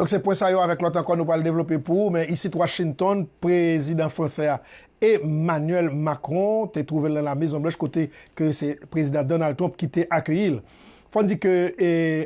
Donk se pwen sa yo avèk lòt ankò nou pral devlope pou ou men isit Washington prezidan fransè a Emmanuel Macron te twouve l nan la Mezon Blanch kote ke se prezidan Donald Trump ki te akeyi l. Fò n di ke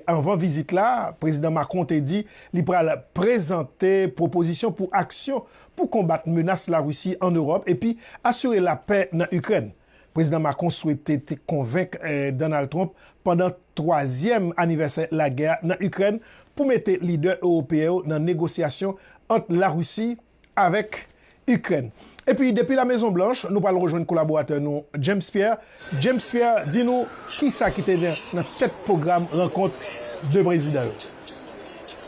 anvan vizit la prezidan Macron te di li pral prezante pwopozisyon pou aksyon pou konbat menas Larisi an Ewòp epi asire lapè nan Ikrèn. Prezidan Macron swete te konvenk Donald Trump pandan twazyèm anivèsè lagè a nan Ikrèn pou mete lidè ewopeyen yo nan negosyasyon ant Larisi avèk Ikrèn. Epi depi La Mezon Blanch, nou pral rejwenn kolaboratè nou James Pierre. James Pierre, di nou kisa ki te nan tèt pwogram rankont 2 prezidan yo.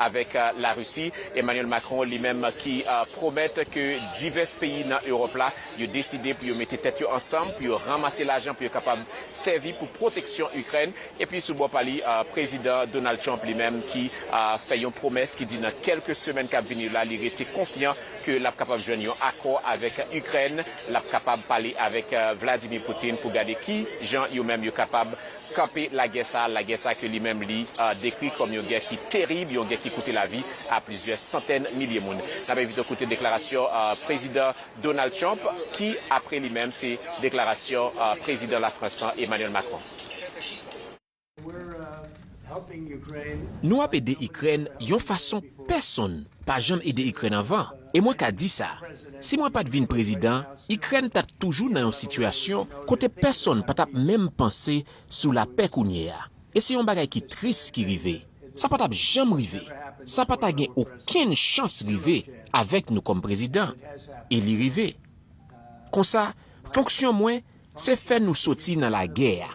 Avèk Larisi, Emmanuel Macron li menm ki pwomèt ke divès peyi nan Ewòp la yo deside pou yo mete tèt yo ansanm pou yo ranmase lajan pou yo kapab sèvi pou pwoteksyon Ikrèn. Epi sou bò pa li, Prezidan Donald Trump li menm ki fè yon pwomès ki di nan kèlke semèn kap vini yo la li rete konfyan ke lap kapab jwenn yon akò avèk Ikrèn, lap kapab pale avèk Vladimir Putin pou gade ki jan yo menm yo kapab kanpe lagè sa a, lagè sa ke li menm li dekri kòm yon gè ki terib, yon gè ki koute lavi a plizyè santèn milye moun. N ap envite w koute deklarasyon Prezidan Donald Trump ki apre li menm se deklarasyon Prezidan Lafrans lan, Emmanuel Macron. Nou ap ede Ikrèn yon fason pèsonn pa janm ede Ikrèn anvan, e mwen ka di sa. Si mwen pa t vin prezidan, Ikrèn t ap toujou nan yon sitiyasyon kote pèsonn pa t ap menm panse sou lapè kounye a. E se yon bagay ki tris ki rive. Sa pa t ap janm rive. Sa pa ta gen okenn chans rive avèk nou kòm prezidan. E li rive. Konsa, fonksyon mwen, se fè nou soti nan lagè a,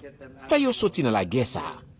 fè yo soti nan lagè sa a.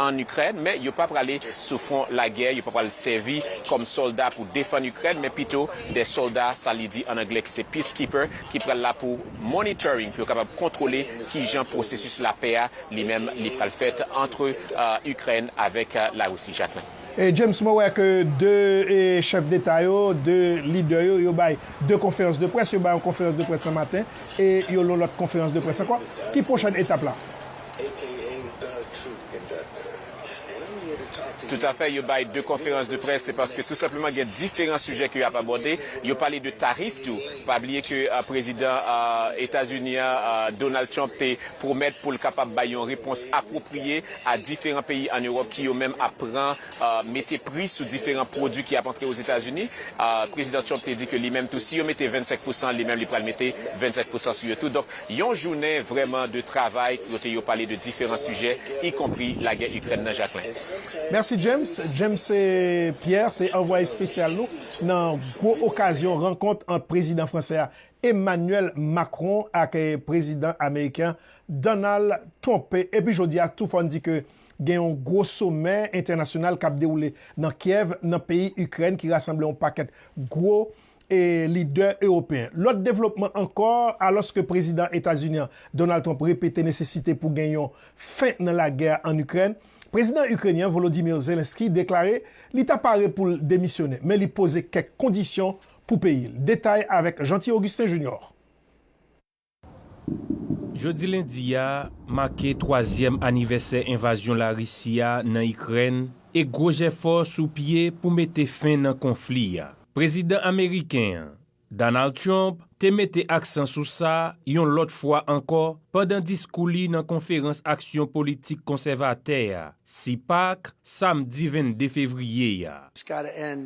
ann Ikrèn, men yo pa prale sou fwon lagè, yo pa pral sèvi kòm sòlda pou defann Ikrèn, men pito de sòlda, sa li di ann anglè, ki se peacekeeper, ki pral la pou monitoring, pou yo kapab kontwole ki jan pwosesis lapè a li menm li pral fèt antre Ikrèn avèk Larisi. Jacques, men. E James, mwen wè ke 2 chèf deta yo, 2 lidè yo, yo bay 2 konferans de près, yo bay yon konferans de près nan maten e yon lòt konferans de près ankò. Ki pwochèn etap la? Toutafè, yo bay 2 konferans de près, se paske tou senpleman gen diferan sijè ke y ap abòde. Yo pale de tarif tou. Pa bliye ke Prezidan Etazini an, Donald Trump, te pwomèt pou l kapab bay yon repons apwopriye a diferan peyi ann Ewòp ki yo menm ap pran mete pri sou diferan pwodui ki ap antre Ozetazini. Prezidan Trump te di ke li menm tou, si yo mete 25 pousan, li menm li pral mete 25 pousan sou yo tou. Yon jounen vrèman de travay kote yo pale de diferan sijè y konpri lagè Ikrèn nan Jacquelin. Mèsi James. James Pierre se anvwaye espesyal nou nan gwo okazyon rankont ant prezidan fransè a Emmanuel Macron ak prezidan ameriken an Donald Trump. Epi jodi a tou fò n di ke gen yon gwo somè entènasyonal k ap dewoule nan Kyèv nan peyi Ikrèn ki rasanble yon pakèt gwo e lidè ewopeyen. Lòt devlopman ankò, alòske Prezidan Etazini an, Donald Trump repete nesesite pou gen yon fen nan lagè a ann Ikrèn, Prezidan Ikrenyen an, Volodymyr Zelenskyy, deklare li ta pare pou l demisyonnen, men li poze kèk kondisyon pou peyi l. Detay avèk Jeanty Augustin Junior. Jodi lendi a make twazyèm anivèsè envazyon Larisi a nan Ikrèn e gwo jèfò sou pye pou mete fen nan konfli a. Prezidan ameriken an, Donald Trump, te mete aksan sou sa yon lòt fwa ankò pandan diskou li nan Konferans Aksyon Politik Konsèvatè a, CPAC, samdi 22 fevriye a.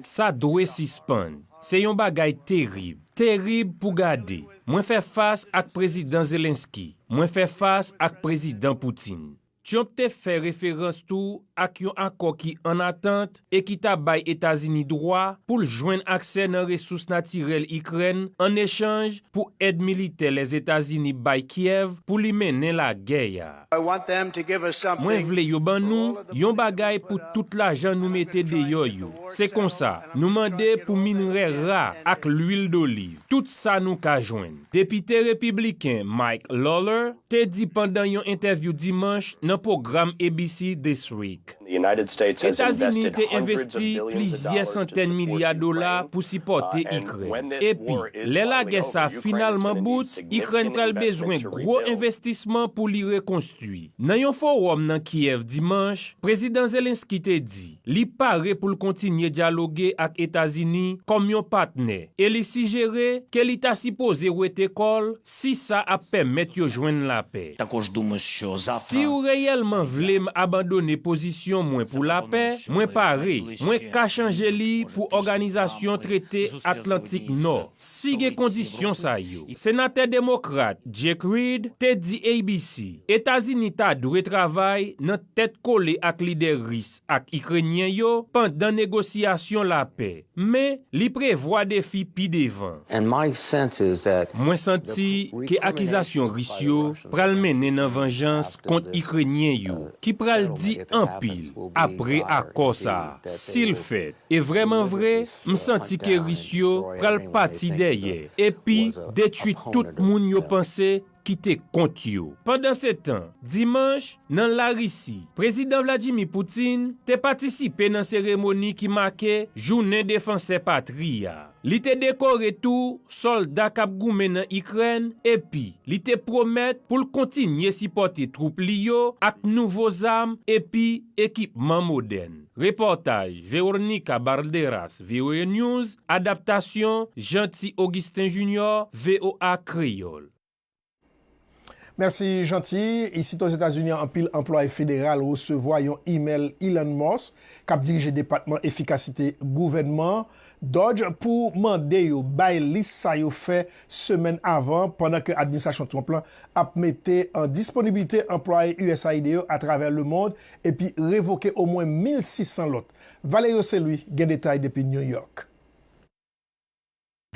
Sa dwe sispann. Se yon bagay terib. Terib pou gade. Mwen fè fas ak Prezidan Zelensky. Mwen fè fas ak Prezidan Poutine. Trump te fè referans tou ak yon akò ki ann atant e ki ta bay Etazini dwa pou l jwenn aksè nan resous natirèl Ikrèn an echanj pou èd militè Lèzetazini bay Kyèv pou li mennen lagè a. Mwen vle yo ban nou yon bagay pou tout lajan nou mete deyò yo. Se konsa, nou mande pou minrè ra ak lwil doliv, tout sa nou ka jwenn. Depite Repibliken Mike Lawler te di pandan yon entèvyou Dimanch nan pwogram ABC This Week. Etazini te envesti plizyè santèn milya dola pou sipòte Ikrèn. Epi, lè lagè sa a finalman bout, Ikrèn pral bezwen gwo envestisman pou li rekonstwi. Nan yon fowòm nan Kyèv dimanch, Prezidan Zelensky te di li pare pou l kontinye dyaloge ak Etazini kòm yon patnè e li sijere ke li ta sipoze wete kò l Si sa ap pèmèt yo jwenn lapè. Si ou reyèlman vle m abandone pozisyon mwen pou lapè, mwen pare, mwen ka chanje li pou Òganizasyon Trete Atlantik Nò, si gen kondisyon sa yo. Senatè Demokrat Jake Reed te di ABC Etazini ta dwe travay nan tèt kole ak lidè Ris ak Ikrenyen yo pandan negosyasyon lapè. Men, li prevwa defi pi devan. Mwen santi ke akizasyon Ris yo pral mennen nan vanjans kont Ikrenyen yo, ki pral di anpil apre akò sa a, si l fèt. E vrèman vre, m santi ke Ris yo pral pati dèyè epi detwi tout moun yo panse kite kont yo. Pandansetan, dimanch, nan Larisi, Prezidan Vladimir Putin te patisipe nan seremoni ki make Jounen Defansè Patri a. Li te dekore tou sòlda k ap goumen nan Ikrèn epi li te pwomèt pou l kontinye sipòte twoup li yo ak nouvo zam epi ekipman modèn. Repòtaj Veornica Balderas, voanews, Adaptasyon, Jeanty Augustin Junior, voa Kreyòl. Mèsi Jeanty. Isit Ozetazini anpil anplwaye federal resevwa yon imèl Elon Musk, kap dirije Depatman Efikasite Gouvènman, doj, pou mande yo bay lis sa yo fè semèn avan pandan ke administrasyon Trump lan ap mete an disponibilite anplwaye usaid yo atravè lemond epi revoke omwen 1,600 lòt. Valerio se lui gen detay depi New York.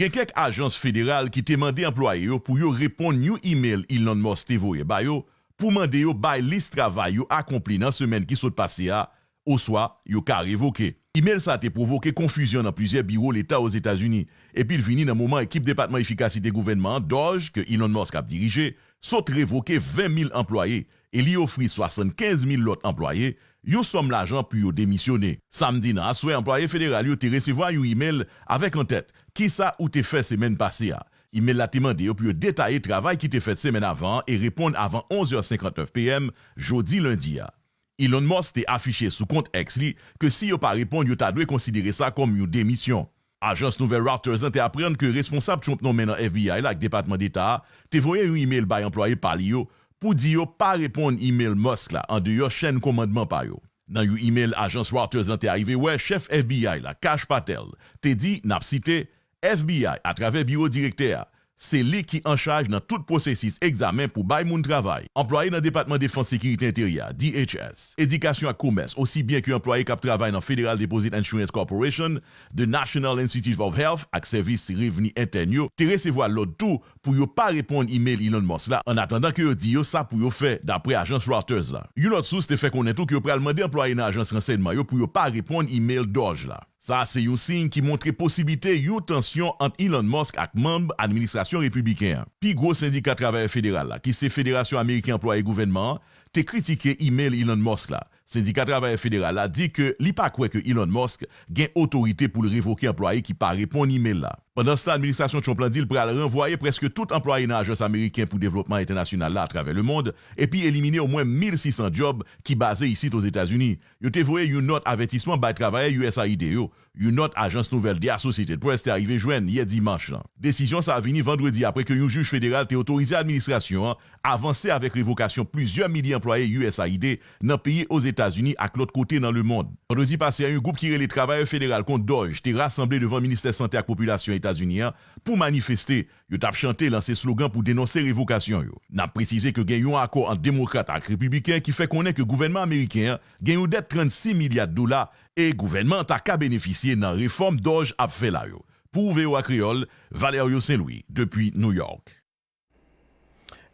Gen kèk ajans federal ki te mande anplwaye yo pou yo reponn yon imel Elon Musk te voye ba yo pou mande yo bay lis travay yo akonpli nan semèn ki sot pase a oswa yo ka revoke. Imel sa a te pwovoke konfizyon nan plizyè biwo leta Ozetazini epi l vini nan moman ekip Depatman Efikasite Gouvènman an, DOGE, ke Elon Musk ap dirije, sot revoke 20 mil anplwaye e li ofri 75 mil lòt anplwaye yon sòm lajan pou yo demisyone. Samdi nan aswè anplwaye federal yo te resevwa yon imel avèk an tèt Kisa ou te fè semèn pase a? Imel la te mande yo pou yo detaye travay ki te fèt semèn avan an e reponn avan 11 è 59 PM jodi lendi a. Elon Musk te afiche sou kont X li ke si yo pa reponn yo ta dwe konsidere sa kòm yon demisyon. Ajans nouvèl Reuters lan te aprann ke responsab Trump nonmen nan FBI la ak Depatman Deta a te voye yon imel bay anplwaye pa li yo pou di yo pa reponn imel Musk la andeyò chèn komandman pa yo. Nan yon imel ajans Reuters lan te arive wè, chèf FBI la, Kash Patel, te di, nap site, FBI, atravè biwo direktè a, Se li ki anchaj nan tout pwosesis egzamen pou bay moun travay. Anplwaye nan Depatman Defans Sekirite Enteryè a, DHS, Edikasyon ak Komès osi byen ke anplwaye k ap travay nan Federal Deposit Insurance Corporation, The National Institute of Health ak Sèvis Revni Entèn yo te resevwa lòd tou pou yo pa reponn imel Elon Musk la ann atandan ke yo di yo sa pou yo fè, dapre ajans Reuters la. Yon lòt sous te fè konnen tou ke yo pral mande anplwaye nan ajans ransèyman yo pou yo pa reponn imel DOJ la. Sa a se yon siy ki montre posiblite yon tansyon ant Elon Musk ak manm administrasyon repibliken an. Pi gwo sendika travayè federal la, ki se Federasyon Ameriken Anplwaye Gouvènman an, te kritike imel Elon Musk la. Sendika travayè federal la di ke li pa kwè ke Elon Musk gen otorite pou l revoke anplwaye ki pa reponn imel la. Pandanstan, administrasyon Trump la di l pral ranvwaye prèske tout anplwaye nan Ajans Ameriken pou Devlopman Entènasyonal la atravè lemond epi elimine omwen 1,600 djòb ki baze isit Ozetazini, Yo te voye yon nòt avètisman bay travayè usaid yo, yon nòt ajans nouvèl The Associated Press te arive jwenn yè dimanch lan. Desizyon sa a vini vandredi apre ke yon jij federal te otorize administrasyon an avanse avèk revokasyon plizyè milye anplwaye usaid nan peyi Ozetazini ak lòt kote nan lemond. Vandredi pase a yon gwoup ki rele Travayè Federal Kont Dòj te rasanble devan Ministè Sante ak Popilasyon Etazini an pou manifeste Yo t ap chante, lanse slogan pou denonse revokasyon yo. N ap presize ke gen yon akò ant Demokrat ak Repibliken ki fè konnen ke gouvènman ameriken an gen yon dèt 36 milya dola e gouvènman an ta ka benefisye nan refòm doj ap fè la yo. Pou voa Kreyòl, Valerio St-Louis, depi New York.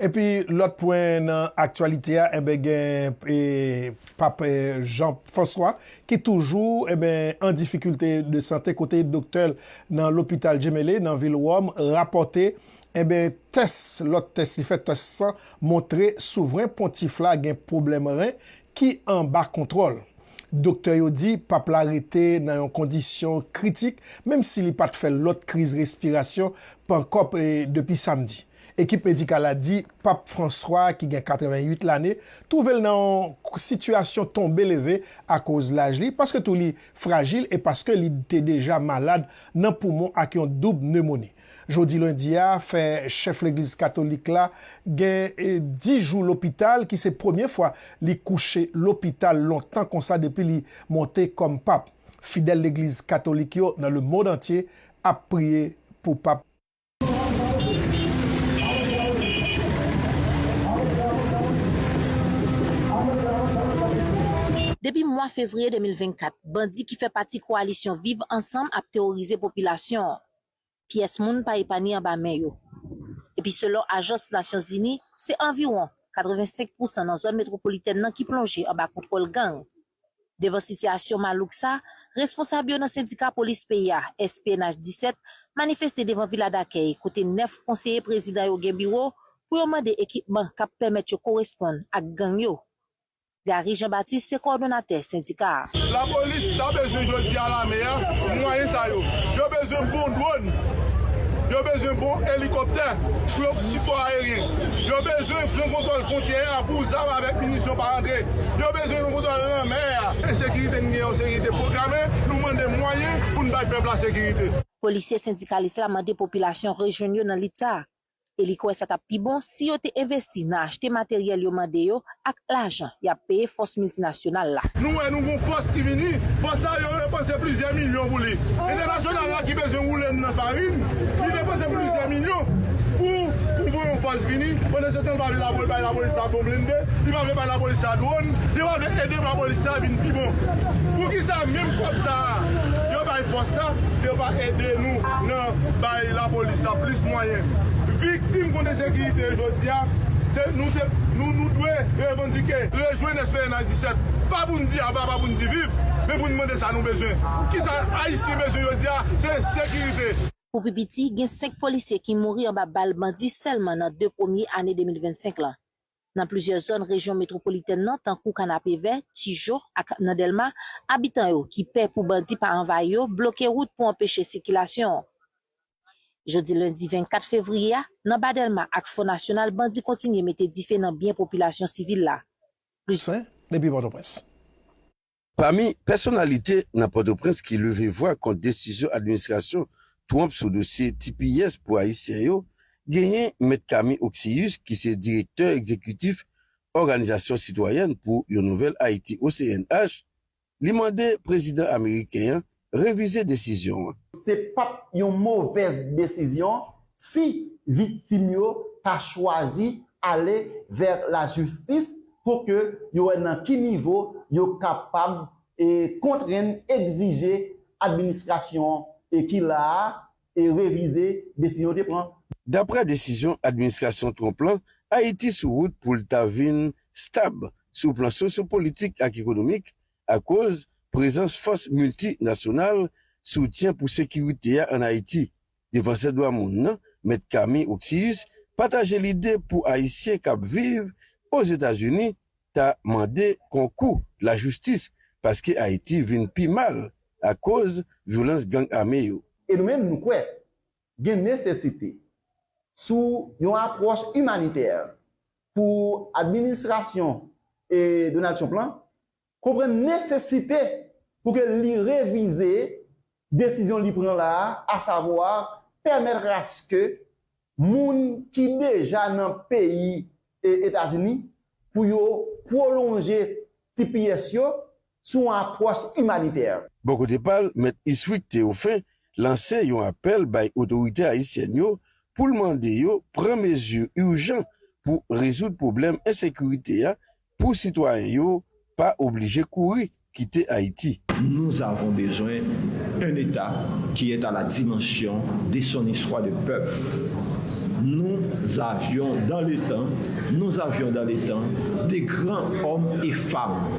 Epi lòt pwen nan aktyalite a enben gen Pap Jan Fwanswa ki toujou enben an difikilte de sante kote doktè l nan lopital Jemele nan vil Wòm rapòte enben tès lòt tès li fè tès san montre souvren pontif la gen pwoblèm ren ki anba kontwòl. Doktè yo di Pap la rete nan yon kondisyon kritik menm si li pat fè lòt kriz respirasyon pankòp depi samdi. Ekip medikal la di Pap Franswa a ki gen 88 lane twouve l nan yon sitiyasyon tonbe leve akoz laj li, paske tou li frajil e paske li te deja malad nan poumon ak yon doub nemoni. Jodi lendi a fè chèf legliz katolik la gen 10 jou lopital ki se premye fwa li kouche lopital lontan konsa depi li monte kòm Pap. Fidèl legliz katolik yo nan lemond antye ap priye pou Pap. Depi mwa fevriye 2024, bandi ki fè pati kowalisyon Viv ansanm ap teworize popilasyon an. Pyès moun pa epanye anba men yo. Epi selon ajans Nasyon Zini, se anviwon 85 pousan nan zòn metwopolitèn nan ki plonje anba kontwòl gang. Devan sitiyasyon malouk sa, responsab yo nan sendika polis peyi a, SPNH 17, manifeste devan Vila Dakèy kote 9 konseye prezidan yo gen biwo pou yo mande ekipman k ap pèmèt yo koresponn ak gang yo. Garry Jean Baptiste se kowòdonatè sendika a. Lapolis ta bezwen jodi a lame a mwayen sa yo. Yo bezwen bon dwòn. Yo bezwen bon elikòptè pou yo sipò ayeryen. Yo bezwen pran kontwòl fwontyè a pou zam avèk minisyon pa antre. Bezwen yon kontwòl lanmè a. Ensekirite n gen yon sekirite pwograme, nou mande mwayen pou n bay pèp la sekirite. Polisye sendikalis la mande popilasyon rejwenn yo nan lit sa a e li kwè sa t ap pi bon si yo te envesti nan achte materyèl yo mande yo ak lajan y ap peye fòs miltinasyonal la. Nou wè nou gen yon fòs ki vini, fòs sa yo yo panse plizyè milyon pou li. Entènasyonal ki bezwen woule m nan farin, li depanse plizyè milyon pou pou voye yon fòs vini, pandansetan li pa vle lapo bay lapolis la bon blende, li pa vle bay lapolis la dwòn, li pa vle ede lapolis la vin pi bon. Poukisa menm kòb sa a yo bay fòs la yo pa ede nou nan bay lapolis la plis mwayen? Viktim konte sekirite jodi a se nou se nou nou dwe revandike, rejwenn SPNH 17 pa pou n di aba pa pou n di viv men pou n mande sa nou bezwen kisa ayisyen. Ki bezwen jodi a se sekirite. Pou pi piti, gen 5 polisye ki mouri anba bal bandi sèlman nan 2 premye ane 2025 lan. Nan plizyè zòn rejyon metwopolitèn nan tankou Kanapevè, Tijo ak nan Dèlma, abitan yo ki pè pou bandi pa anvayi yo bloke wout pou anpeche sikilasyon an. Jodi lendi 24 fevriye a, nan Ba Dèlma ak Fò Nasyonal bandi kontinye mete dife nan byen popilasyon sivil la. Plis. Toussaint, depi Pòtoprens. Pami pèsonalite nan Pòtoprens ki leve vwa kont desizyon administrasyon Trump sou dosye tps pou Ayisyen yo, genyen Mèt Camille Occius ki se direktè egzekitif Òganizasyon Sitwayèn pou yon Nouvèl Ayiti, OCNH, li mande prezidan ameriken an revize desizyon an. Se p ap yon movèz desizyon si viktim yo ta chwazi ale vè lajistis pou ke yo wè nan ki nivo yo kapab kontrenn, egzije administrasyon ki la a revize desizyon yo te pran. Daprè desizyon administrasyon Trump lan, Ayiti sou wout pou l ta vin stab sou plan sosyopolitik ak ekonomik, akoz prezans fòs milti nasyonal soutyen pou sekirite a ann Ayiti. Defansè dwa moun nan, Mèt Camille Occius, pataje lide pou Ayisyen k ap viv Ozetazini ta mande konkou lajistis paske Ayiti vin pi mal akoz vyolans gang ame yo. E nou menm nou kwè gen nesesite sou yon apwòch imanitè pou administrasyon Donald Trump lan konprann nesesite pou ke li revize desizyon li pran la a, asavwa pèmèt aske moun ki deja nan peyi Etazini pou yo pwolonje tps yo sou yon apwòch imanitè. Bò kote pa l, Mèt Iswick Théophin lanse yon apèl bay otorite ayisyèn yo pou l mande yo pran mezi ijan pou rezoud pwoblèm ensekirite a pou sitwayen yo pa oblije kouri kite Ayiti. Nous avons besoin un État qui est à la dimension de son histoire de peuple nous avions dans le temps nous avions dans le temps de grands hommes et femmes.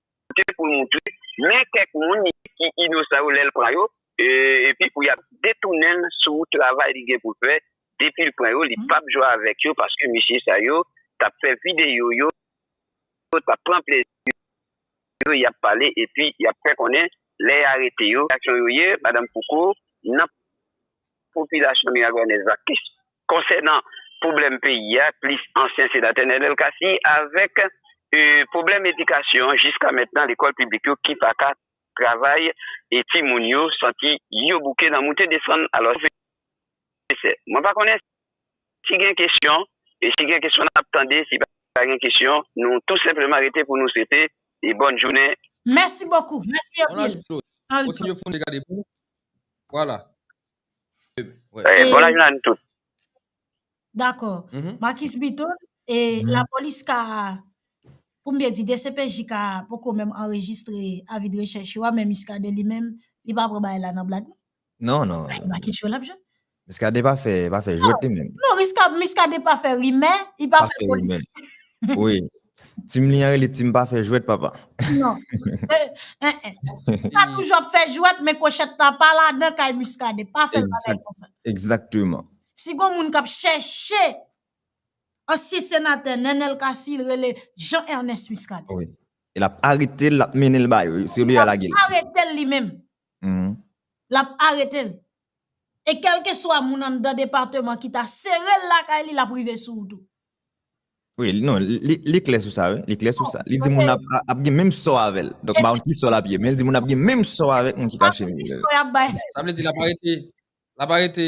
te pou l moutre men kèk moun ki inosan yo lè l pran yo, epi pou y ap detounen l sou travay li gen pou l fè, depi l pran yo li p ap jwe avèk yo paske mesye sa yo t ap fè videyo, yo t ap pran plezi yo, y ap pale epi y ap fè konnen lè y arete yo. Reyaksyon yo ye, Madanm Fouco, nan. Popilasyon Miragonez la konsènan pwoblèm peyi a plis ansyen senatè Nenel Cassy avèk pwoblèm edikasyon jiska mentnan lekòl piblik yo ki pa ka travay e ti moun yo santi yo bouke nan moute desann alò se nesesè mwen pa konnen si gen kesyon e si gen kesyon nap tande si pa gen kesyon nou tou senpleman rete pou nou swete bòn jounen. Mèsi bokou, mèsi anpil. Voilà. Eh, bon lajounen nou tout. Dakò. Marcus Bito, e la polis ka, pou m te di dcpj ka, poko menm anrejistre avi de rechèch yo a, men Muscadin li menm, li pa pran bagay la nan blag non? Non, non. Marcus yo l ap jwenn. Miskaden pa fè pa fè jwèt li menm. Non riskab miskaden pa fè rimè, li pa fè politik. Pa fè rimè. Wi. Team li an rele team pa fè jwèt papa. Non. Li pa toujou ap fè jwèt men kwochèt la pa ladan kay miskaden. Pa fè bagay konsa. Egzakteman. Si gon moun k ap chèche ansyen senatè Nenel Cassy li rele Jean Ernest Muscadin. Wi. L ap arete l, l ap mennen l ba yo. Se yo li al lage l. L ap arete l li menm. L ap arete l. E kelke swa moun anndan departeman ki ta sere l lakay li, l ap rive sou ou tou. Wi, non, li klè sou sa wi, li klè sou sa. Li di moun ap gen menm sò avè l. Donk ba ou ki sò l ap ye. Men li di moun ap gen menm sò avèk moun ki ka chimè l. Sa vle di l ap arete, l ap arete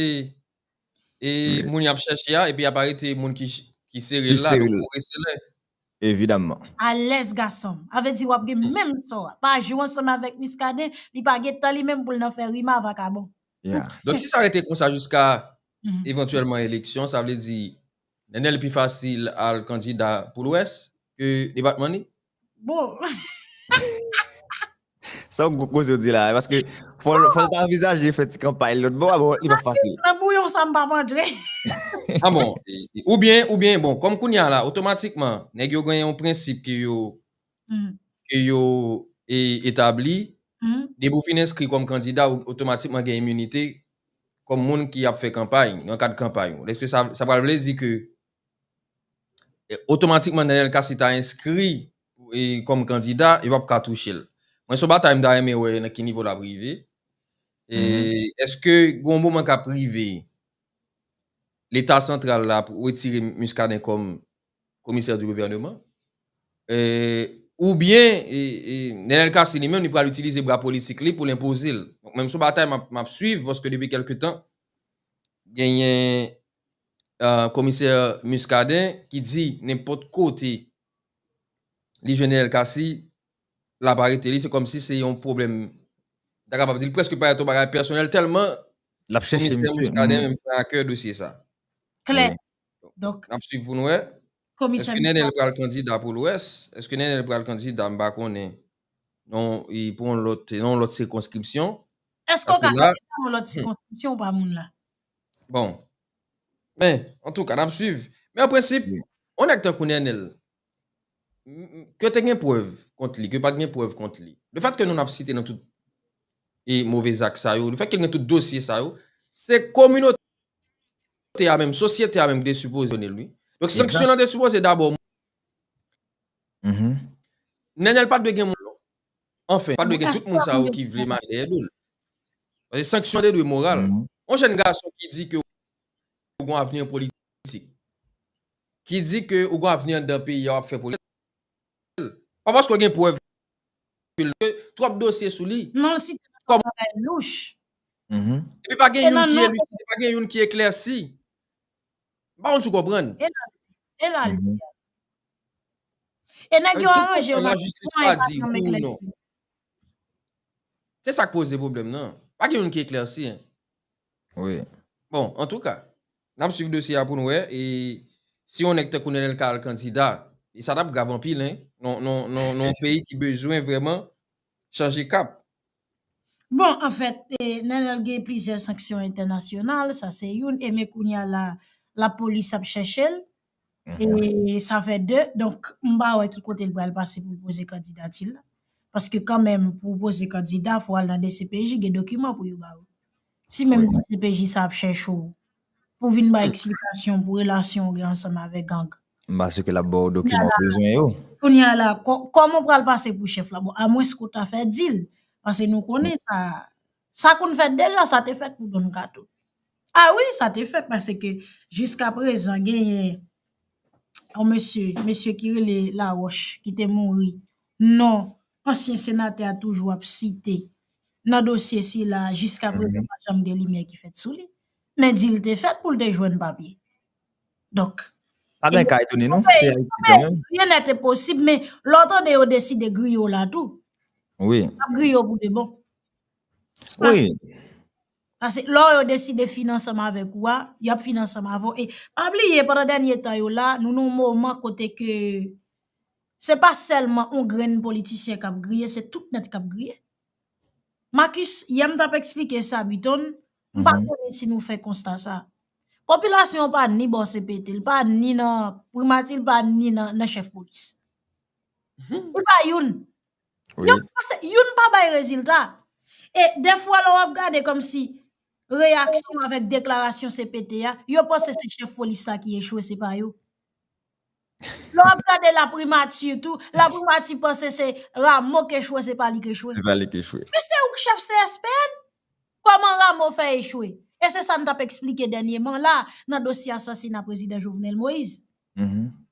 e moun y ap chèche a epi y ap arete moun ki sere l la, donk ou reselè. evidamman. Alèz gasonm. Avè di wap gen menm sò a. Pa jwe ansanm avèk Muscadin, li pa gen tan li menm poul nan fè rima vakabon. Yeah. Donk si sa rete konsa jiska evantyèlman eleksyon sa vle di Nenel pi fasil al kandida pou lwès ke depatman li? Bon. Se yon gwo koze ou di la, paske fò l ta anvizaje fè ti kanpay l lòt bò a, bon, li pa fasil. Nan bouyon sa m pa p antre. A bon, oubyen, oubyen, bon, kòm kounye a la, otomatikman, nèg yo gen yon prensip ke yo, ke yo etabli, depi ou fin enskri kòm kandida, ou otomatikman gen iminite kòm moun ki ap fè kanpay, nan kad kanpay ou. Èske sa, sa pral vle di ke Otomatikman Nènèl Kasi ta enskri kòm kandida, yo pap ka touche l. Mwen se yon batay m ta renmen wè nan ki nivo l ap rive. Eske gen yon moman k ap rive leta santral la ap wetire Muscadin kòm komisè di gouvèneman? Oubyen Nènèl Kasi li menm li pral itilize bra politik li pou l enpoze l? Mwen se yon batay m ap swiv paske depi kèlke tan genyen Komisè Muscadin ki di nenpòt kote li jwenn Neel Cassy l ap arete li se kòmsi se yon pwoblèm m ta kapab di l prèske parèt yon bagay pèsonèl tèlman Komisè Muscadin menm pran a kè dosye sa. Klè. Donk. N ap swiv pou n wè. Komisè Muscadin. Èske Neenel pral kandida pou Lwès? Èske Neenel pral kandida m pa konnen non pou yon lòt sikonskripsyon? Èske w ka kandida pou yon lòt sikonskripsyon ou pa moun la? Bon. Men, antouka, n ap swiv. Men an prensip, yon nèg tankou Nenel, ke te gen prèv kont li, ke pa t gen prèv kont li, le fèt ke nou n ap site nan tout e move zak sa yo, le fèt ke gen tout dosye sa yo, se kominote a menm, sosyete a menm ki te sipoze sanksyonnen l wi. Donk sanksyon an te sipoze dabò. Nenel pa t dwe gen moun Anfen, pa dwe gen tout moun sa yo ki vle mare dèyè do l. Paske sanksyon te dwe moral. Yon jèn gason ki di ke ou gon avni an politik, ki di ke ou gon avni anndan peyi a w ap fè politik, fè l. Pa paske w gen prèv ke l, paske twòp dosye sou li. Non si te nan yon bagay louch. Epi pa gen youn ki eliside, pa gen youn ki eklèsi. M pa konn si w konprann. E la l di. E la l di. E nèg yo aranje yo nan tout pwen e pa janm eklèsi. Se sa k poze pwoblèm nan. Pa gen youn ki eklèsi. Wi. Bon, antouka, n ap swiv dosye a pou n wè e si yon nèg tankou Nenel ka al kandida. E sa t ap grav anpil, hein, nan yon peyi ki bezwen vrèman chanje kap. Bon, anfèt, Nenel gen plizyè sanksyon entènasyonal, sa se youn, e men kounye a la, lapolis ap chèche l, e sa fè de, donk, m pa wè ki kote l pral pase pou l poze kandidati l la, paske kanmenm pou w poze kandida, fò w al nan dcpj, gen dokiman pou yo ba ou. Si menm dcpj sa ap chèche ou. pou vin bay eksplikasyon pou relasyon ou gen ansanm avèk gang. M pa si ke l ap ba w dokiman ou bezwen yo. Kounye a la, kòman ou pral pase pou chèf la? Bon, a mwens ke w ta fè dil, pase nou konnen sa, sa konn fèt deja, sa te fèt pou Don Kato. A wi, sa te fèt, pase ke jiska prezan genyen yon mesye, mesye ki rele Laroche, ki te mouri, non, ansyen senatè a toujou ap site nan dosye sila, jiska prezan pa janm gen limyè ki fèt sou li. Men di l te fèt pou l te jwenn papye. Donk. Pa gen ka etone non, se Ayiti kanmenm. Ryen nè te posib, men lè w tande yo deside griye w la tou. Wi. Y ap griye w pou de bon. Wi. Pase lè yo deside fin ansanm avèk ou a, y ap fin ansanm avè w. E pa bliye pandan dènye tan yo la, nou nan yon moman kote ke se pa sèlman yon grenn politisyen k ap griye, se tout nèt k ap griye. Makis, yè m t ap esplike sa Biton, M pa konnen si nou fè konsta sa. Popilasyon pa ni bò CPT, l pa ni nan primati, l pa ni nan chèf polis. Li pa youn. Youn pa bay rezilta. E defwa lò w ap gade kòm si reyaksyon avèk deklarasyon CPT a, yo panse se chèf polis la ki echwe se pa yo. Lè wap gade la primati tou, la primati panse se Rameau k echwe se pa li k echwe. Se pa li k echwe. Men se ou k chèf CSPN? Kòman Rameau fè echwe? E se sa n tap eksplike dènyeman la nan dosye asasina prezidan Jovenel Moïse.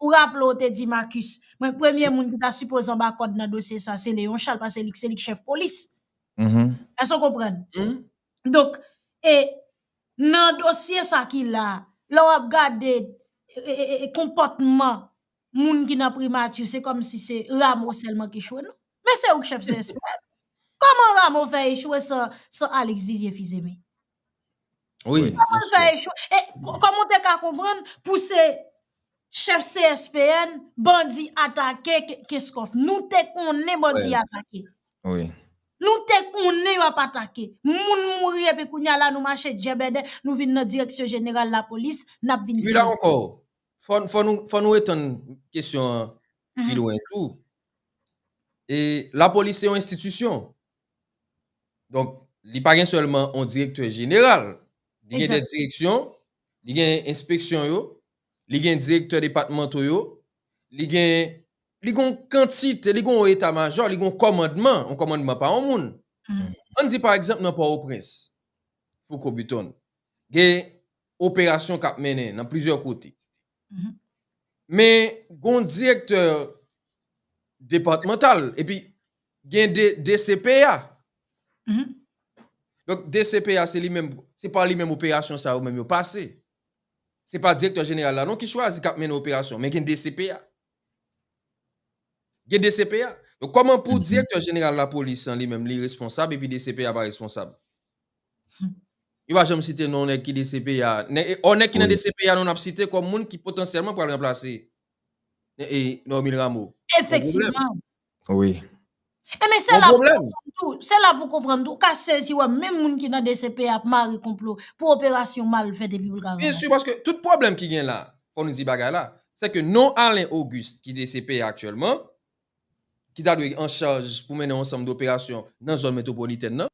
Ou raple w te di Marcus, mwen premye moun ki ta sipoze anba kòd nan dosye sa se Léon Charles pase li se li k chèf polis. Èske w konprann? Donk, e nan dosye sa ki la, lè w ap gade konpòtman moun ki nan primati, se kòm si se Ramo sèlman ki chwe nou. Men se ou k chèf CSP. Kòman Ramo fè echwe san Alix Didier Fils-Aimé? Kòman l fè echwe? E kòman w te ka konprann pou se... Chef CSPN bandi atake Kenscoff nou te konnen bandi atake nou te konnen yo ap atake moun mouri epi kounya la nou mache djèbèdè nou vin nan direksyon jeneral lapolis nap vin di nou. Fò nou etann kesyon an pi lwen tou e lapolis se yon enstitisyon donk li pa gen sèlman yon direktè jeneral li gen de direksyon Li gen enspeksyon yo, li gen direktè depatmanto yo, li gen, li gen yon kantite, li gen yon eta majò, li gen yon kòmandman, yon kòmandman pa yon moun. An n di pa egzanp nan Pòtoprens, Fouco Beaton, gen operasyon k ap mennen nan plizyè kote. Men gen yon direktè depatmantal, epi Gen de DCPA. Donk DCPA se li menm, se pa li menm operasyon sa yo menm yo pase. Se pa direktè jeneral la non ki chwazi k ap mennen operasyon, men gen DCPA. Gen DCPA. Donk kòman pou direktè jeneral lapolis lan li menm li responsab epi DCPA pa responsab? Yo pa janm site non nèg ki DCPA. Ò nèg ki nan DCPA nou n ap site kòm moun ki potansyèlman pral ranplase Normil Rameau. Efektivman. Wi. E men se la pou konprann tou, se la pou konprann tou, ou ka sezi wè menm moun ki nan dcp ap mare konplo pou operasyon mal fèt epi pou l ka ranmase. Byen si paske tout pwoblèm ki gen la, fò nou di bagay la, se ke non Alain Auguste ki dcp a aktyèlman, ki ta dwe an chaj pou mennen yon ansanm doperasyon nan zòn metwopolitèn nan,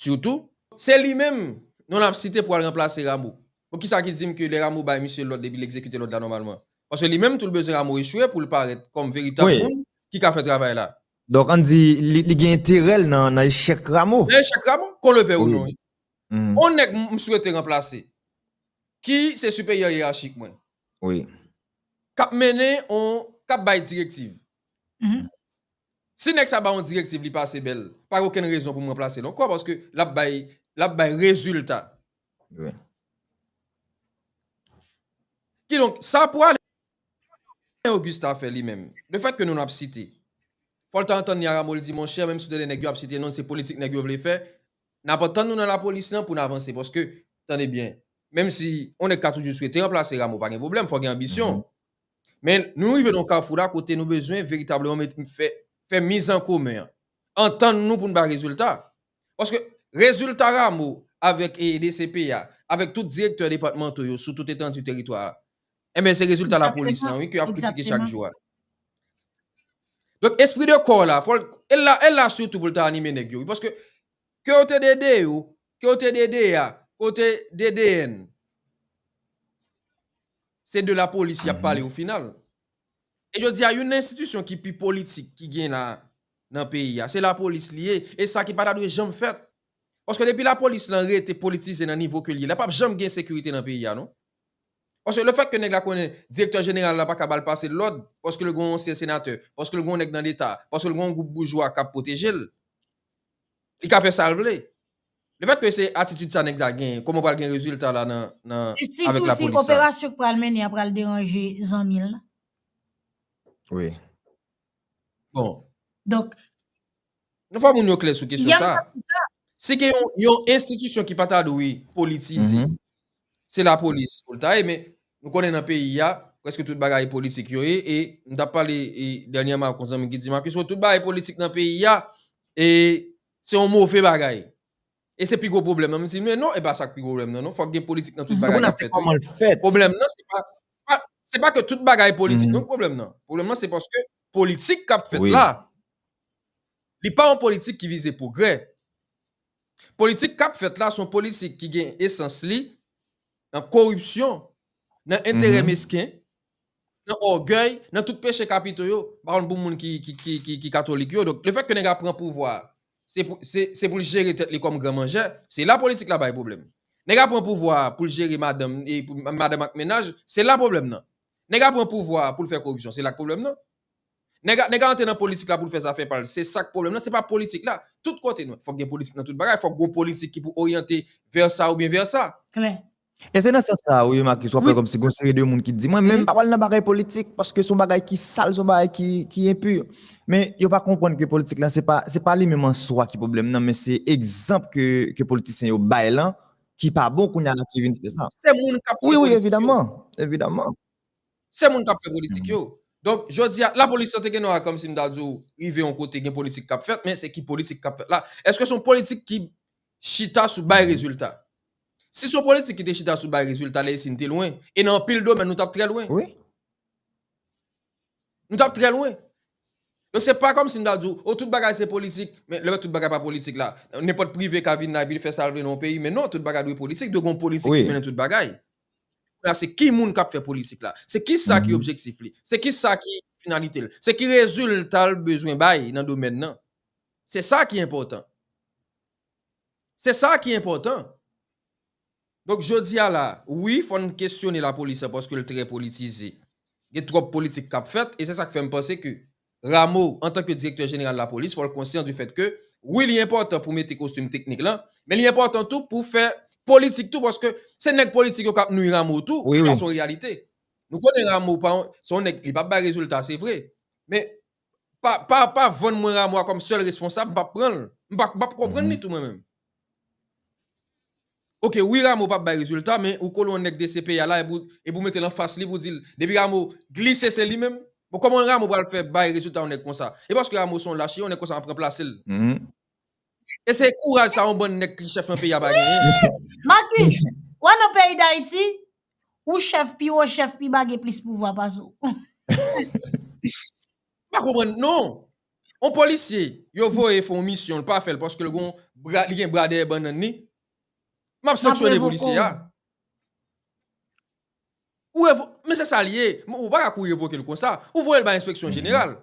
Sitou. Se li menm non nap site pou al ranplase Rameau. Bon kisa ki dim ke lè Rameau bay misye lòd epi li egzekite lòd la nòmalman? Paske li menm tou l bezwen Rameau echwe pou l parèt kòm veritab moun ki ka fè travay la. Donk ann di li gen enterè l nan echèk Rameau? Nan echèk Rameau, kon le vèy ou non. On nèg m swete ranplase, ki se siperyè yerachik mwen. Kap mennen on, kap bay direktiv. Si nèg sa ba w yon direktiv li pase bèl, pa gen okenn rezon pou m ranplase l ankò paske l ap bay l ap bay rezilta. Kidonk, sa pou Alain Auguste ta fè li menm, lefètke nou n ap site, fò l ta antann li a Rameau l di monchè menm si w te lè nèg yo ap site non l se politik nèg yo vle fè, n ap antann nou nan lapolis lan pou n avanse paske, tande byen, menm si yon nèg ka toujou swete ranplase Rameau pa gen pwoblèm fò gen anbisyon. Men, nou rive nan yon kafou la kote nou bezwen veritableman met fè fè mizan komen an. Antann nou pou nou bay rezilta. Paske rezilta Ramo avèk e DCP a, avèk tout direktè depatmanto yo sou tout etandi teritwa a, enben se rezilta lapolis lan wi ke y ap kritike chak jou a. Donk espri de kò la, fò l, e l la, e l la sitou pou l ta anime nèg yo wi. Paske ke yo te ede yo, Kote DDA kote DDN. Se de la police yap pale au final. E jodi a youn enstitisyon ki pi politik ki gen la nan peyi a se la police li ye e sa ki pa ta dwe janm fèt. Paske depi la police lan rete politize nan nivo ke li ye la pap janm gen sekirite nan peyi a non. Paske le fèt ke nèg la konnen direktè jeneral la pa ka bal pase lòd paske l gon ansyen senatè, paske l gon nèg nan leta, paske l gon gwoup boujwa kap pwoteje l. Li ka fè sal vle. Le fèt ke se atitid sa nèg sa genyen, koman pral gen rezilta la nan avèk la polis sa. Sitou si operasyon k pral mennen an pral deranje zanmi l lan. Wi. Bon. Donk. Nou fè moun yo klè sou kesyon sa. Si gen yon enstitisyon ki pa ta dwe politize. Se la polis pou l ta ye men nou konnen nan peyi a prèske tout bagay politik yo ye e m t ap pale dènyèman ak yon zanmi ki di m Marcus wè tout bagay politik nan peyi a e se yon move bagay e se pi gwo pwoblèm nan m di men non e pa sa k pi gwo pwoblèm nan non fòk gen politik nan tout bagay k ap fèt wi pwoblèm nan se pa se pa ke tout bagay politik non k pwoblèm nan pwoblèm nan se paske politik k ap fèt la li pa yon politik ki vize pwogrè Politik kap fèt la son politik ki gen esans li nan koripsyon, nan enterè mesken, nan ògèy, nan tout peche kapito yo, m pa konn pou moun ki katolik yo, donk lefètke nèg la pran pouvwa a, se pou l jere tèt li kòm gran manjè, se la politik la bay pwoblèm. Nèg la pran pouvwa a pou l jere madanm ak mennaj, se la pwoblèm nan. Nèg la pran pouvwa a pou l fè koripsyon, se la k pwoblèm nan. Nèg a nèg a antre nan politik la pou l fè zafè pa l. Se sa k pwoblèm nan. Se pa politik la. Tout kote nou. Fòk gen politik nan tout bagay. Fòk gen yon politik ki pou oryante vè sa oubyen vè sa. Klè. E se nan sans sa a wi Marcus w ap wè kòmsi gen yon seri de moun ki di mwen menm m pa pral nan bagay politik paske s on bagay ki sal s on bagay ki enpur. Men yo pa konprann ke politik la se pa se pa li menm an swa ki pwoblèm nan men se egzanp ke ke politisyen yo bay lan ki pa bon kounya ki vin fè sa. Se moun k ap fè politik yo. Wi wi evidaman. Evidaman. Se moun kap fè politik yo. Donk, jodi a, lapolis sa te gen non a kòm si m ta di w rive yon kote gen politik kap fèt, men se ki politik kap fèt la? Eske son politik ki chita sou bay rezilta? Si son politik ki te chita sou bay rezilta lè isi n te lwen, e nan anpil domèn nou tap trè lwen. Wi. Nou tap trè lwen. Donk se pa kòm si m ta di w, o tout bagay se politik, men lè tout bagay pa politik la, nenpòt prive ka vin la epi li fè sa l vle nan yon peyi, men non, tout bagay dwe politik, dwe gen yon politik ki mennen tout bagay. Kounye a se ki moun k ap fè politik la? Se ki sa ki objektif li? Se ki sa ki finalite l? Se ki rezilta l bezwen bay nan domèn nan? Se sa ki enpòtan. Se sa ki enpòtan. Donk jodi a la, wi fò n kesyone lapolis la paske l trè politize. Gen twòp politik k ap fèt e se sa k fè m panse ke Rameau, antanke Direktè Jeneral Lapolis, fò l konsyan di fèt ke, wi li enpòtan pou mete kostim teknik lan, men li enpòtan tou pou fè politik tou paske se nèg politik yo k ap nwi Rameau tou, se pa se yon reyalite. Nou konnen Rameau pa yon, se yon nèg, li p ap bay rezilta se vre, men pa, pa, pa vann mwen Rameau a kòm sèl responsab, m p ap pran l, m pa, m p ap konprann li tou mwen menm. Ok wi Rameau pap bay rezilta men ou kolon nèg dcpj la epi ou metel anfas li pou dil depi Rameau glise se li menm bon kòman Rameau pral fè bay rezilta yon nèg konsa e paske Rameau son lach yon nèg konsa ap ranplasel e se kouraj sa yon bann nèg ki chèf nan peyi a pa genyen. Marcus, wè nan peyi dayiti, ou chèf pi wo chèf pi ba gen plis pouvwa pase w. M pa konprann non. On polisye yo voye fè yon misyon li pa fèl paske li gon bra li gen bra dèyè bannann li map sanksyone polisye a ou revo men se sa li ye ou pa ka kou revokel konsa ou voyel bay enspeksyon jeneral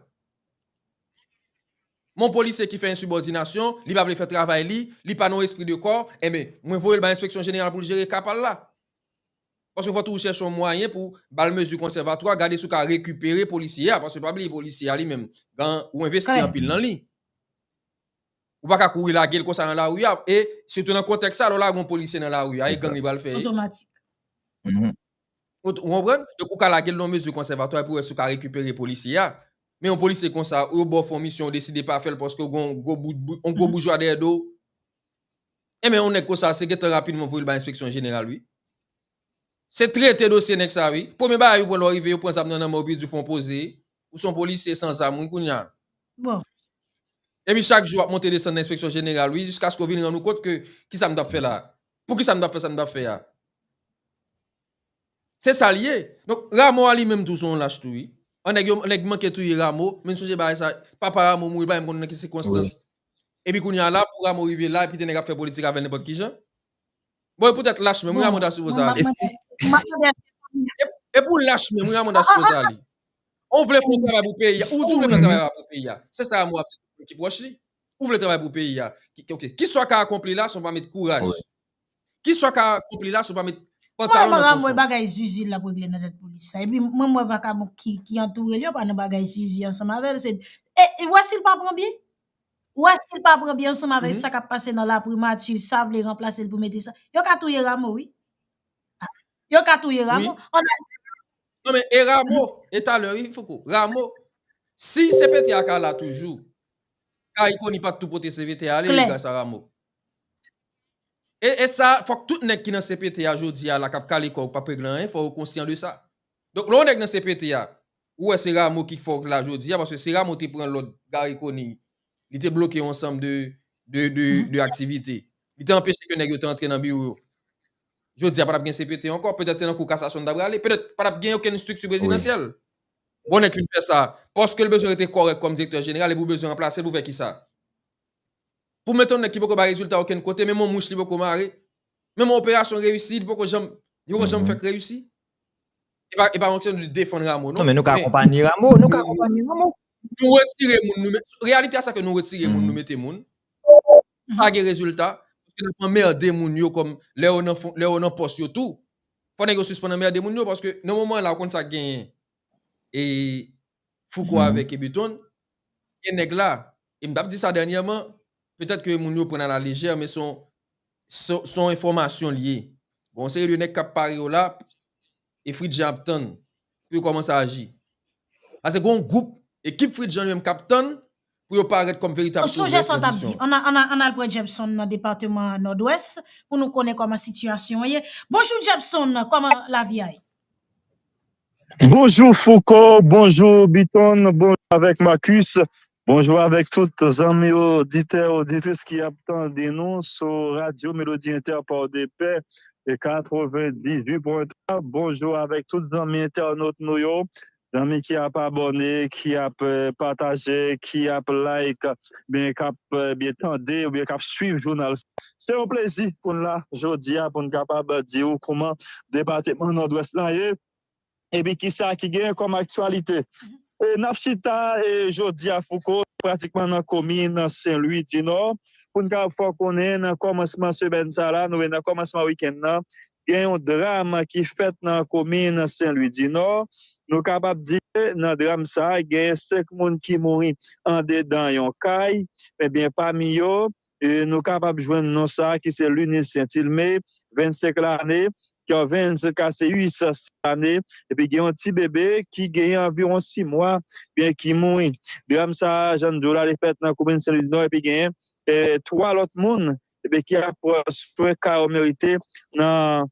men yon polisye ki fè ensibòdinasyon li pa vle fè travay li li pa nan yon espri de kò enben mwen voyel bay enspeksyon jeneral poul jere ka pal la. Paske fò tou ou chèche yon mwayen pou bal mezi konsèvatwa, gade si ou ka rekipere polisye a, paske pa bliye polisye a li menm gan ou envesti anpil nan li. Ou pa ka kouri lage l konsa nan lari a, e sitou nan kontèks sa lè w lage yon polisye nan lari a e gang li pral fè? Ou konprann? Donk ou ka lage l nan yon mezi konsèvatwa pou wè si ou ka rekipere polisye a. Men yon polisye konsa ou yo ba w fè yon misyon ou deside pa fè l paske ou gen yon gwo boujwa dèyè do w. Enben yon nèg konsa se gentan rapid mwen voyel bay enspeksyon jeneral wi. Se trete dosye nèg sa wi. Premye bagay yo pran lè w rive yo pran zam nan nan men w epi yo di w fè yon poze. Ou se yon polisye san zam wi kounya. Bon. Epi chak jou w ap monte desann nan enspeksyon jeneral wi jiskaske w vin rann ou kont ke kisa m t ap fè la a? Poukisa m t ap fè sa m t ap fè a? Se sa l ye. Donk Ramo a li menm tou se yon lach tou wi. An nèg yo nèg manke touye Ramo men sonje bagay sa papa Ramo mouri l pa menm konn nan ki sikonstans Epi kounye a la pou Ramo rive la epi te nèg ap fè politik avèl nenpòt ki jan. Bon e pou tèt lach menm Ramo ta sipoze ale. E si E pou lach menm Ramo ta sipoze ale. Ou vle fè yon travay pou peyi a, ou di ou vle fè yon travay pou peyi a. Se sa Ramo ap di tout moun ki pwòch li. Ou vle travay pou peyi a. Ok, kisa w ka akonpli la si w pa met kouraj? Ki sa w ka akonpli la si w pa met pantalon nan konfò? Mwen pa wè bagay zuzu l ap regle nan tèt polis sa. Epi mwen m wè vakabon ki antoure l yo pa nan bagay zuzu ansanm avè l. E ou wè si l pa pran byen? Ou wè si l pa pran byen ansanm avè sa k ap pase nan laprimati sa vle ranplase l pou mete sa? Yo ka touye Ramo wi. Yo ka touye Ramo. Non men e Ramo e talè wi Fouco. Ramo si CPT a ka la toujou Cariconi pa t tou pote CPT a ale li gras a Ramo. E sa fòk tout nèg ki nan CPT a jodi a la kap kale kòw pap regle anyen fò yo konsyan de sa. Donk lè yon nèg nan CPT a ou wè se Rameau ki fòk la jodi a paske se Rameau te pran lòd Garry Conille li te bloke yon ansanm de de aktivite. Li te anpeche ke nèg yo te antre nan biwo yo. Jodi a patap gen CPT ankò petèt se nan kou kasasyon li ta prale petèt patap gen okenn estrikti prezidansyèl. Bon nèg fin fè sa paskel bezwen rete kòrèk kòm direktè jeneral epi ou bezwen ranplasel pou fè kisa? Pou met yon nèg ki poko bay rezilta okenn kote, menm yon mouch li poko mare, menm yon operasyon reyisi li poko janm, li poko janm fèk reyisi. E pa e pa yon kesyon li defann Rameau non. Non men nou ka akonpanye Rameau, nou ka akonpanye Rameau. Nou retire moun nou met, reyalite a sa ke nou retire moun nou mete moun, pa gen rezilta, paske nap anmerde moun yo kòm lè yo nan fon, lè yo nan pòs yo tou, fò nèg yo sispann anmerde moun yo paske nan moman la ou konn sak genyen e Fouco avèk Ebeton, Gen nèg la, e m t ap di sa dènyèman, petèt ke moun yo pran a la lejè men se yon se yon enfòmasyon li ye. Gen yon seri de nèg k ap pare yo la e Fritjjan ap tann pou yo kòmanse aji. Pase gen yon gwoup, ekip Fritjjan li menm k ap tann pou yo parèt kòm veritab sovè pozisyon. Mwen sonje sa w t ap di. An n al, an n al pran Jepson nan depatman Nòdwès pou nou konnen kòman sitiyasyon an ye. Bonjou Jepson, kòman lavi a ye? Bonjou Fouco, bonjou Biton, bonjou avèk Marcus, bonjou avèk tout zanmi oditè, oditris ki ap tande nou sou Radyo Melodi Entèpò de Pè 98.3. Bonjou avèk tout zanmi entènot nou yo Zanmi ki ap abòne, ki ap pataje, ki ap like, ebyen k ap ebyen tande oubyen k ap swiv jounal sa. Se yon plezi pou n la jodi a pou n kapab di ou kouman depateman Nòdwès lan ye epi kisa ki genyen kòm aktyalite. E n ap chita jodi a Fouco pratikman nan komin Senlwi dinò pou n kapab fè w konnen nan kòmansman semèn sa la, nou menm nan kòmansman wikenn nan gen yon dram ki fèt nan komin Senlwi Dinò, nou kapab di nan dram sa gen 5 moun ki mouri andedan yon kay, ebyen pami yo nou kapab jwenn non sa ki se Lunis Sentilme 25 lane, Kervens Caseus 6 lane, epi gen yon ti bebe ki genyen anviwon 6 mwa ebyen ki mouri. Dram sa jan n di w la li fèt nan komin Senlwi Dinò epi genyen 3 lòt moun epi ki ap pran swen ka yo merite nan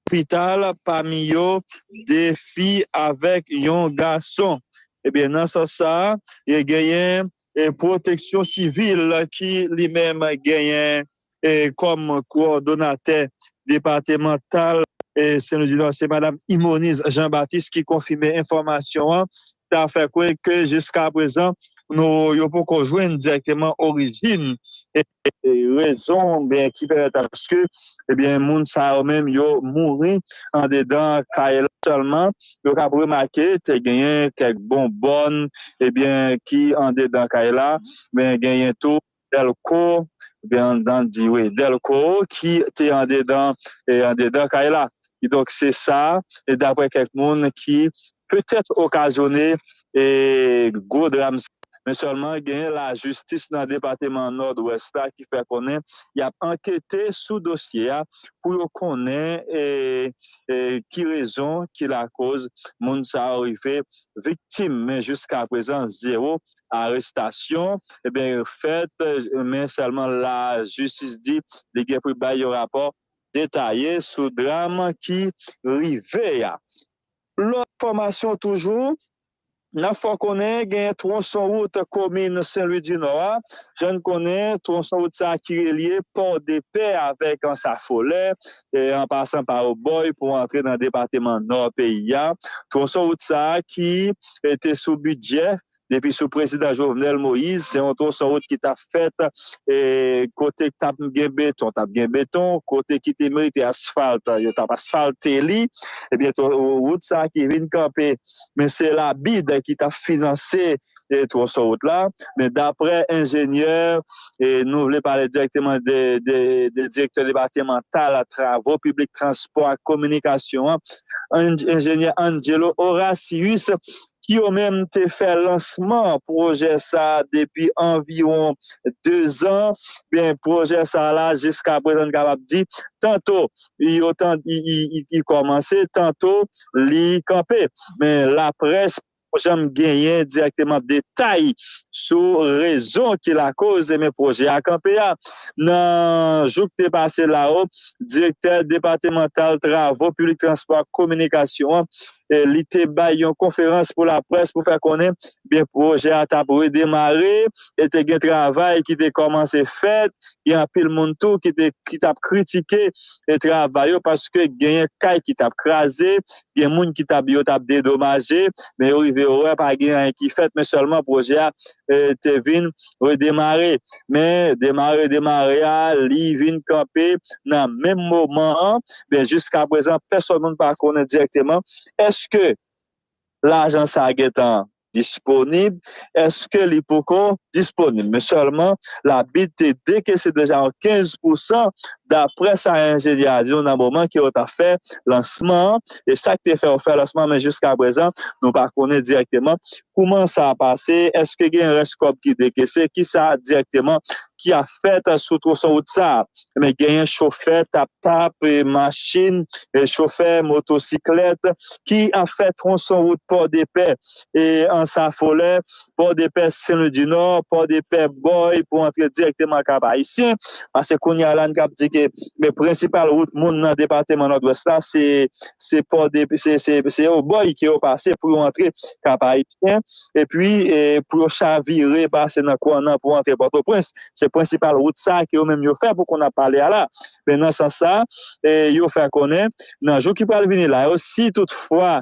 lopital, pami yo 2 fi avèk yon gason. Ebyen nan sans sa a genyen Pwoteksyon Sivil ki li menm genyen kòm kowòdonatè depatemantal Sen Lwi di Nò se Madam Imoniz Jean Baptiste ki konfime enfòmasyon an ta fè kwè ke jiska prezan nou yo poko jwenn dirèkteman orijin e rezon oubyen ki pèmèt aske ebyen moun sa yo menm yo mouri andedan kay la sèlman yo kab remake te genyen kèk bonbòn ebyen ki andedan kay la men genyen tou Delko oubyen anndan di wi Delko ki te andedan andedan kay la. Kidonk se sa daprè kèk moun ki petèt okazyone gwo dram sa. Men sèlman genyen lajistis nan depateman Nòdwès la ki fè konnen y ap ankete sou dosye a pou yo konnen ki rezon ki lakoz moun sa yo rive viktim men jiskaprezan zewo arestasyon ebyen yo fèt men sèlman la jistis di li gen pou bay yon rapò detaye sou dram ki rive a. Lòt enfòmasyon toujou n ap fè w konnen genyen twonson wout komin Senlwi di Nò a jan n konnen twonson wout sa ki relye Pòdepè avèk Ansafolè an pasan pa Obòy pou antre nan depateman Nò peyi a twonson wout sa ki te sou bidjè depi sou prezidan Jovenel Moïse se yon twosonwout ki ta fèt e kote k ta gen beton t ap gen beton, kote ki te merite asfalt yo t ap asfalte li ebyen twosonwout sa a ki vin kanpe men se la bid ki t ap finanse twosonwout la men daprè enjenyè e nou vle pale dirèkteman de direktè depatemantal travo piblik transpò ak kominikasyon an enjenyè Angelo Horacius ki yo menm te fè lansman pwojè sa depi anviwon 2 zan, byen pwojè sa la jiskaprezan n kapab di tanto yo tan li kòmanse tanto li kanpe. Men laprès pa janm genyen dirèkteman detay sou rezon ki lakoz men pwojè a kanpe a. Nan jou k te pase la o, direktè depatemantal travo piblik transpò ak kominikasyon an li te bay yon konferans pou laprès pou fè konnen byen pwojè a tap redemare e te gen travay ki te kòmanse fèt, gen anpil moun tou ki tap kritike travay yo paske genyen kay ki tap kraze, gen moun ki tap yo tap dedomaje men yo rive wè pa gen anyen ki fèt men sèlman pwojè a te vin redemare. Men demare demare a li vin kanpe nan menm moman an. Ben jiska prezan pèsòn moun pa konnen dirèkteman eske lajan sa gentan disponib, eske li poko disponib. Men sèlman la bid te dekese deja yon 15 pousan daprè sa enjenyè a di nou nan moman ke yo ta fè lansman an. E sak te fè yo fè lansman men jiska prezan nou pa konnen dirèkteman Kouman sa pase? Eske gen rès kòb ki dekese? Kisa dirèkteman ki ap fèt sou twonson wout sa? Ebyen genyen chofè tap tap, machin, chofè motosiklèt ki ap fè twonson wout Pòdepè, Ansafolè, Pòdepè, Senlwidinò, Pòdepè, Bòy pou antre dirèkteman Kap Ayisyen. Pase kounya la n kab di ke prensipal wout moun nan depateman Nòdwès la se se pò de se yon bòy ke yo pase pou yo antre kap ayisyen epi pou yo chavire pase nan kwannan pou antre pòtoprens se prensipal wout sa ke yo menm yo fè pou konn ap pale a la men nan sans sa yo fè konnen nan jou ki pral vini la yo si tout fwa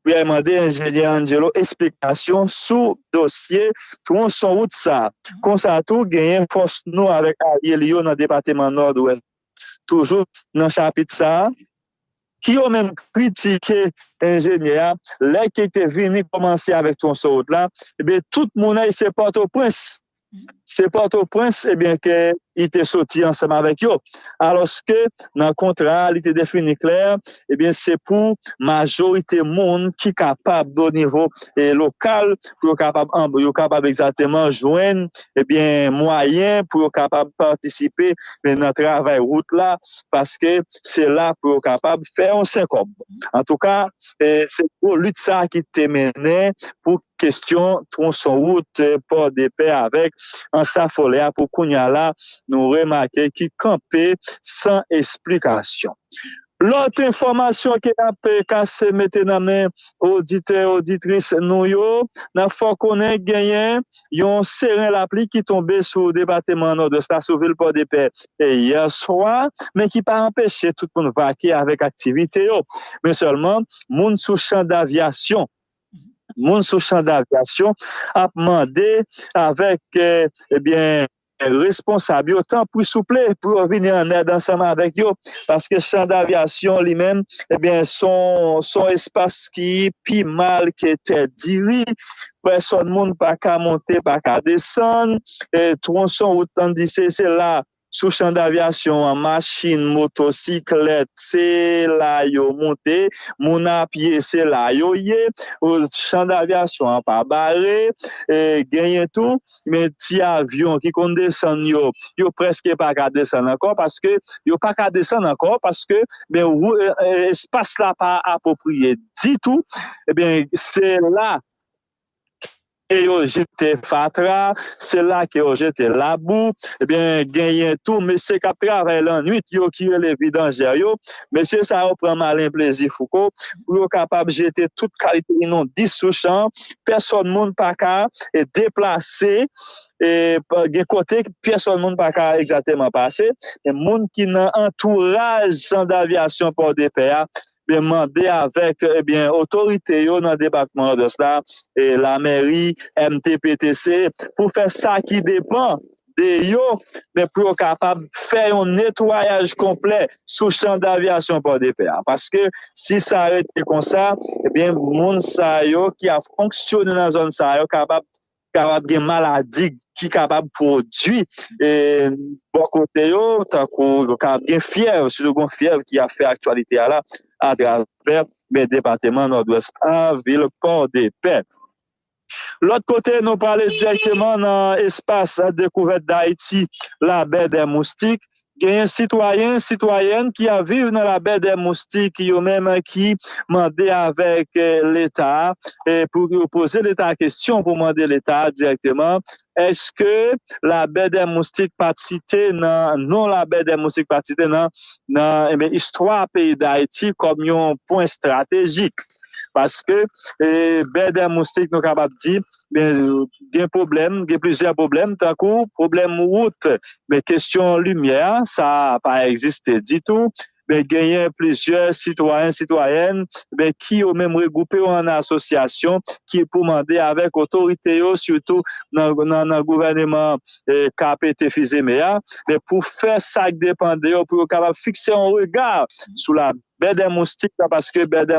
Priye mande enjenyè Angelo esplikasyon sou dosye twonson wout sa. Konsa tou genyen fòs nou avèk alye li yo nan depateman Nòdwès. Toujou nan chapit sa, ki yo menm kritike enjenyè a lè ki te vini kòmanse avèk twonson wout la, ebyen tout moune se Pòtoprens Se Pòtoprens ebyen ke li te soti ansanm avèk yo. Alòske nan kontra a li te defini klè, ebyen se pou majorite moun ki kapab o nivo lokal pou yo kapab yo kapab egzateman jwenn ebyen mwayen pou yo kapab patisipe nan travay wout la paske se la pou yo kapab fè yon senkòb. Antouka se gwo lit sa ki te mennen pou Kestyon twonson wout Pòdepè avèk Ansafolè a pou kounya la nou remake ki kanpe san esplikasyon. Lòt enfòmasyon ke nap kase mete nan men oditè oditris nou yo, nap fè w konnen genyen yon seren lapli ki tonbe sou depateman Nòdwès la sou vil Pòdepè yè swa men ki pa anpeche tout moun vake avèk aktivite yo men sèlman moun sou chan davyasyon Moun sou chan davyasyon ap mande avèk ebyen responsab yo tanpri souple pou yo vini an èd ansanm avèk yo paske chan davyasyon li menm ebyen son espas ki pi mal ke tè diri pèsòn moun pa ka monte pa ka desann e twonson wout tann di se se la Sou chan davyasyon an, machin, moto, siklèt, se la yo moute, moun a pye, se la yo ye. Chan davyasyon an pa bare. Genyen tou ti avyon ki konn desann yo, yo prèske pa ka desann ankò paske yo pa ka desann ankò paske espas la pa apwopriye ditou. Se la ke yo jete fatra, se la ke yo jete labou, ebyen genyen tou mesye kap travay lannwit yo ki rele vidanjè yo, mesye sa yo pran malen plezi fouco pou yo kapab jete tout kalite inondis sou chan, pèsòn moun pa ka deplase, gen kote pèsòn moun pa ka egzateman pase, moun ki nan antouraj san davyasyon pòdepè a ebyen mande avèk ebyen otorite yo nan depatman Nòdwès la, lamèri, MTPTC pou fè sa ki depan de yo men pou yo kapab fè yon netwayaj konplè sou chan davyasyon Pòdepè a paske si sa rete konsa ebyen moun sa yo ki ap fonksyone nan zòn sa yo kapab kapab gen maladi ki kapab pwodui bò kote yo, tankou yo kapab gen fyèv, sitou gon fyèv ki ap fè aktyalite a la atravè men depateman Nòdwès a, vil Pòdepè. Lòt kote nou prale dirèkteman nan espas dekouvèt Dayiti, Labè dè Moustik, Genyen sitwayen, sitwayèn ki ap viv nan Labè dè Moustik yo menm ki mande avèk Leta pou yo poze Leta kesyon pou mande Leta dirèkteman èske Labè dè Moustik pat site nan non Labè dè Moustik pat site nan istwa peyi Dayiti kòm yon pwen estratejik. Paske bè dè moustik nou kapab di gen pwoblèm, gen plizyè pwoblèm tankou pwoblèm wout. Men kesyon limyè a sa pa egziste ditou. Men genyen plizyè sitwayen, sitwayèn men ki yo menm regwoupe yo an asosyasyon ki pou mande avèk otorite yo sitou nan gouvèneman ka pete fizeme a men pou fè sak depan de yo pou yo kapab fikse yon rega sou la bè dè moustik la paske bè dè